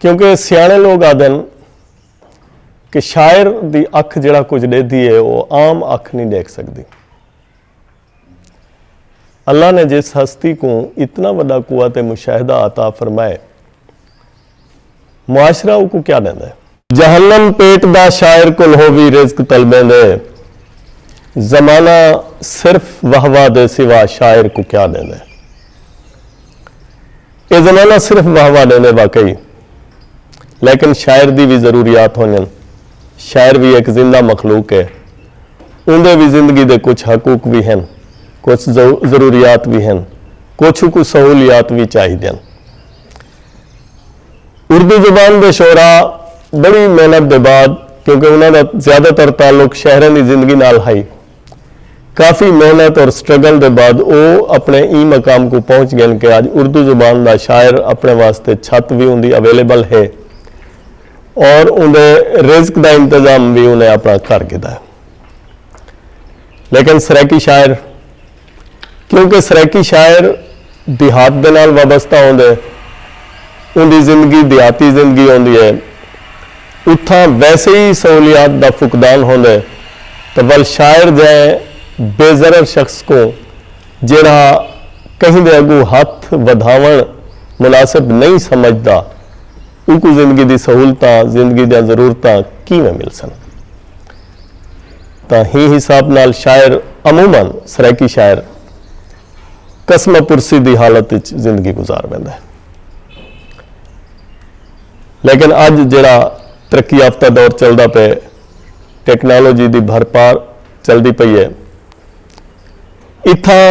کیونکہ سیاݨے لوک آہدن کہ شاعر دی اکھ جیڑھا کجھ ݙیہدی ہے او عام اکھ نی ݙیکھ سڳدی۔ اللہ نے جس ہستی کوں اتنا وݙا قوت مشاہدہ عطا فرمائے معاشرہ اوکوں کیا ݙیندا ہے؟ جہنم پیٹ دا شاعر کول ہووی رزق طلبیں دے زمانہ صرف واہ واہ دے سوا شاعر کوں کیا ݙیندے اے زمانہ صرف واہ واہ ݙیندے واقعی لیکن شاعر دی وی ضروریات ہونجن شاعر وی ہک زندہ مخلوق اے اوندے وی زندگی دے کچھ حقوق وی ہن کچھ ضروریات وی ہن کچھ اکوں سہولیات وی چاہیدیاں۔ اردو زبان دے شعراء بڑی محنت دے بعد کیونکہ انہاں دا زیادہ تر تعلق شہراں دی زندگی نال ہئی۔ کافی محنت اور سٹرگل دے بعد او اپنے ایں مقام کوں پہنچ گئن کہ اج اردو زبان دا شاعر اپنے واسطے چھت وی اوندی اویلیبل ہے اور اوندے رزق دا انتظام وی انہیں اپنا کر گھدا ہے۔ لیکن سرائیکی شاعر۔ کیونکہ سرائیکی شاعر دیہات دے نال وابستہ ہوندے۔ اوندی زندگی دیہاتی زندگی ہوندی ہے۔ اتھاں ویسے ای سہولیات دا فقدان ہوندے تاں ول شاعر جئیں بے ضرر شخص کوں جیڑھا کہیں دے اگوں ہتھ ودھاوݨ مناسب نئیں سمجھدا اوکوں زندگی دی سہولتاں، زندگی دیاں ضرورتاں کیویں ملسن؟ تاں ہیں حساب نال شاعر عموما سرائیکی شاعر کسمہ پرسی دی حالت اچ زندگی گزار ویندے۔ لیکن اج جیڑھا ترقی یافتہ دور چلدا پئے، ٹیکنالوجی دی بھر پار چلدی پئی اے۔ اتھاں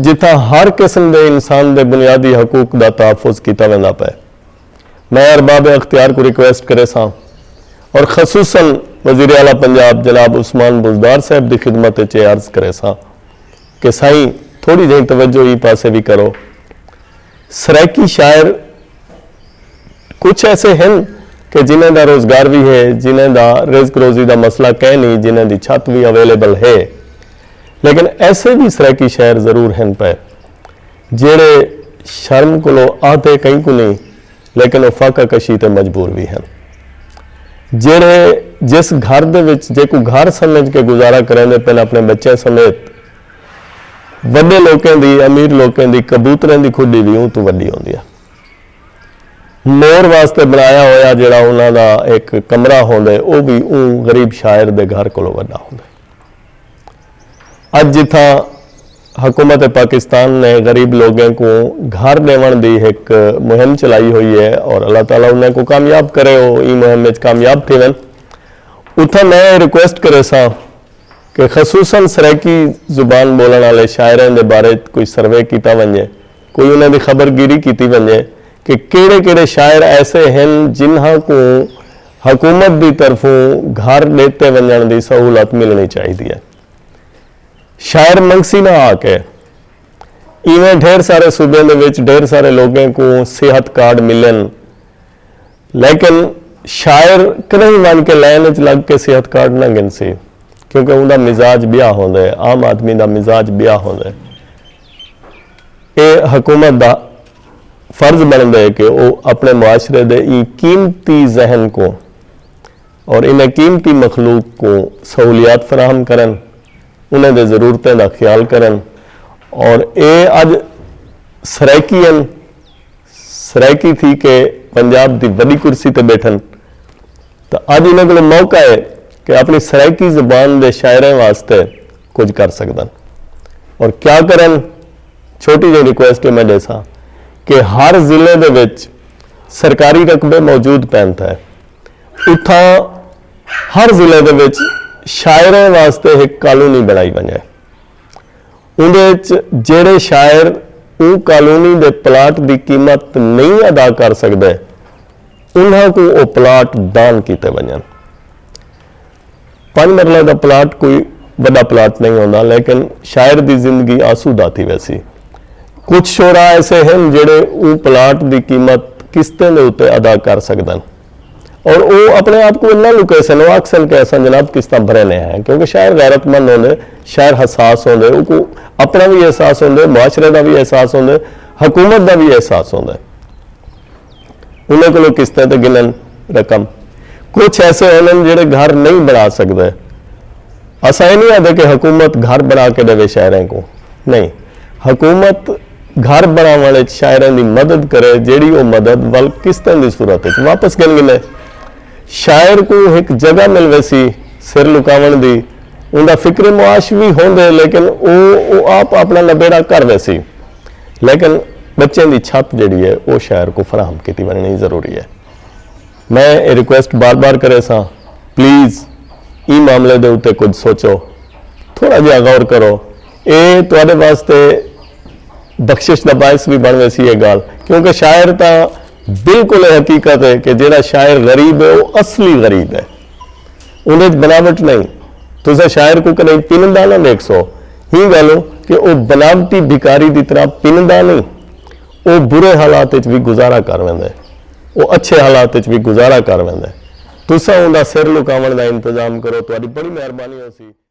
جتھاں ہر قسم دے انسان دے بنیادی حقوق دا تحفظ کیتا ویندا پئے۔ میں ارباب اختیار کوں ریکویسٹ کریساں اور خصوصا وزیر اعلی پنجاب جناب عثمان بزدار صاحب دی خدمت اچ اے عرض کریساں کہ سائیں تھوڑی جہیں توجہ ایں پاسے وی کرو سرائیکی شاعر کچھ ایسے ہن کہ جنہیں دا روزگار وی ہے جنہیں دا رزق روزی دا مسئلہ کئے نی جنہیں دی چھت وی اویلیبل ہے لیکن ایسے وی سرائیکی شاعر ضرور ہن پئے جیڑھے شرم کولوں آہدے کہیں کوں نئیں لیکن او فاقہ کشی تے مجبور وی ہن۔ جیڑھے جس گھر دے وچ جیکوں گھر سمجھ کے گزارا کریندے پن اپنے بچیاں سمیت وڈے لوکیں دی امیر لوکیں دی کبوتریں دی کھڈی وی اوں توں وڈی ہوندی ہے۔ مور واسطے بنایا ہویا جیڑھا انہاں دا ہک کمرہ ہوندے او وی اوں غریب شاعر دے گھر کولوں وڈا ہوندے۔ اج جتھاں حکومت پاکستان نے غریب لوگیں کوں گھر ݙیوݨ دی ہک مہم چلائی ہوئی اے اور اللہ تعالی انہیں کوں کامیاب کرے او ایں مہم اچ کامیاب تھیون اتھاں میں اے ریکویسٹ کریساں کہ خصوصا سرائیکی زبان ٻولݨ آلے شاعریں دے بارے اچ کوئی سروے کیتا ونڄے۔ کوئی انہاں دی خبر گیری کیتی ونجے کہ کیڑھے کیڑھے شاعر ایسے ہن جنہاں کوں حکومت دی طرفوں گھر ڈیتے ونجنڑ دی سہولت ملنڑی چاہیدی ہے۔ شاعر منگسی نہ آ کے۔ ایویں ڈھیر سارے صوبیں دے وچ ڈھیر سارے لوگیں کوں صحت کارڈ ملن لیکن شاعر کنہیں ونج کے لائن اچ لگ کے صحت کارڈ نہ گھنسی کیونکہ اوندا مزاج بیا ہوندے عام آدمی دا مزاج بیا ہوندے۔ اے حکومت دا فرض بنڑدے کہ او اپنڑے معاشرے دے ایں قیمتی ذہن کوں اور انہاں قیمتی مخلوق کوں سہولیات فراہم کرن، انہاں دے ضرورتیں دا خیال کرن اور اے اج سرائیکی ہن، سرائیکی تھی کے پنجاب دی وڈی کرسی تے بیٹھن تاں اج انہاں کولوں موقع اے کہ اپنڑی سرائیکی زبان دے شاعراں واسطے کجھ کر سگدن اور کیا کرن چھوٹی جیہی ریکویسٹ میں ڈیساں کہ ہر ضلعے دے وچ سرکاری رقبے موجود پین تھے اتھاں ہر ضلعے دے وچ شاعریں واسطے ہک کالونی بنڑائی ونجے اوندے وچ جیہڑے شاعر اوں کالونی دے پلاٹ دی قیمت نہیں ادا کر سگدے انہاں کوں او پلاٹ دان کیتے ونجن پنج مرلہ دا پلاٹ کوئی وݙا پلاٹ نئیں ہوندا لیکن شاعر دی زندگی آسودہ تھی ویسی۔ کجھ شعراء ایسے ہن جیڑھے اوں پلاٹ دی قیمت قسطیں دے اتے ادا کر سڳدن۔ اور او اپݨے آپ کوں انہاں لکیسن او آکھسن کہ اساں جناب قسطاں بھریندے ہیں کیونکہ شاعر غیرت مند ہوندے، شاعر حساس ہوندے اوکوں اپݨا وی احساس ہوندے، معاشرے دا وی احساس ہوندے، حکومت دا وی احساس ہوندے۔ انہاں کولوں قسطیں تے گھنن رقم۔ کجھ ایسے ہونن جیڑھے گھر نئیں بݨا سڳدے۔ اساں اے نئیں آہدے کہ حکومت گھر بݨا کے ݙیوے شاعریں کوں۔ نئیں۔ حکومت گھر بݨاوݨ اچ شاعریں دی مدد کرے جیڑھی او مدد ول قسطیں دی صورت اچ واپس گھن گھنے۔ شاعر کوں ہک جگہ مل ویسی سر لکاوݨ دی۔ اوندا فکر معاش وی ہوندے لیکن او او آپ آپݨا نبیڑہ کر ویسی۔ لیکن بچیں دی چھت جیڑی ہے او شہر کوں فراہم کیتی ونجنڑی ضروری ہے۔ میں اے ریکویسٹ بار بار کریساں پلیز ایں معاملے دے اتے کجھ سوچو تھوڑا جیہا غور کرو اے تہاڈے واسطے بخشش دا باعث وی بن ویسی اے گالھ کیونکہ شاعر تاں بالکل اے حقیقت ہے کہ جیڑا شاعر غریب ہے او اصلی غریب ہے۔ اوندے اچ بناوٹ نئیں۔ تساں شاعر کوں کݙاہیں پندا نہ ویکھسو۔ ہی ڳالھوں کہ او بناوٹی بھکاری دی طرح پندا نئیں۔ او برے حالات اچ وی گزارا کر ویندے۔ او اچھے حالات اچ وی گزارا کر ویندے۔ تساں اوندا سر لکاوݨ دا انتظام کرو تہاݙی بڑی مہربانی ہوسی۔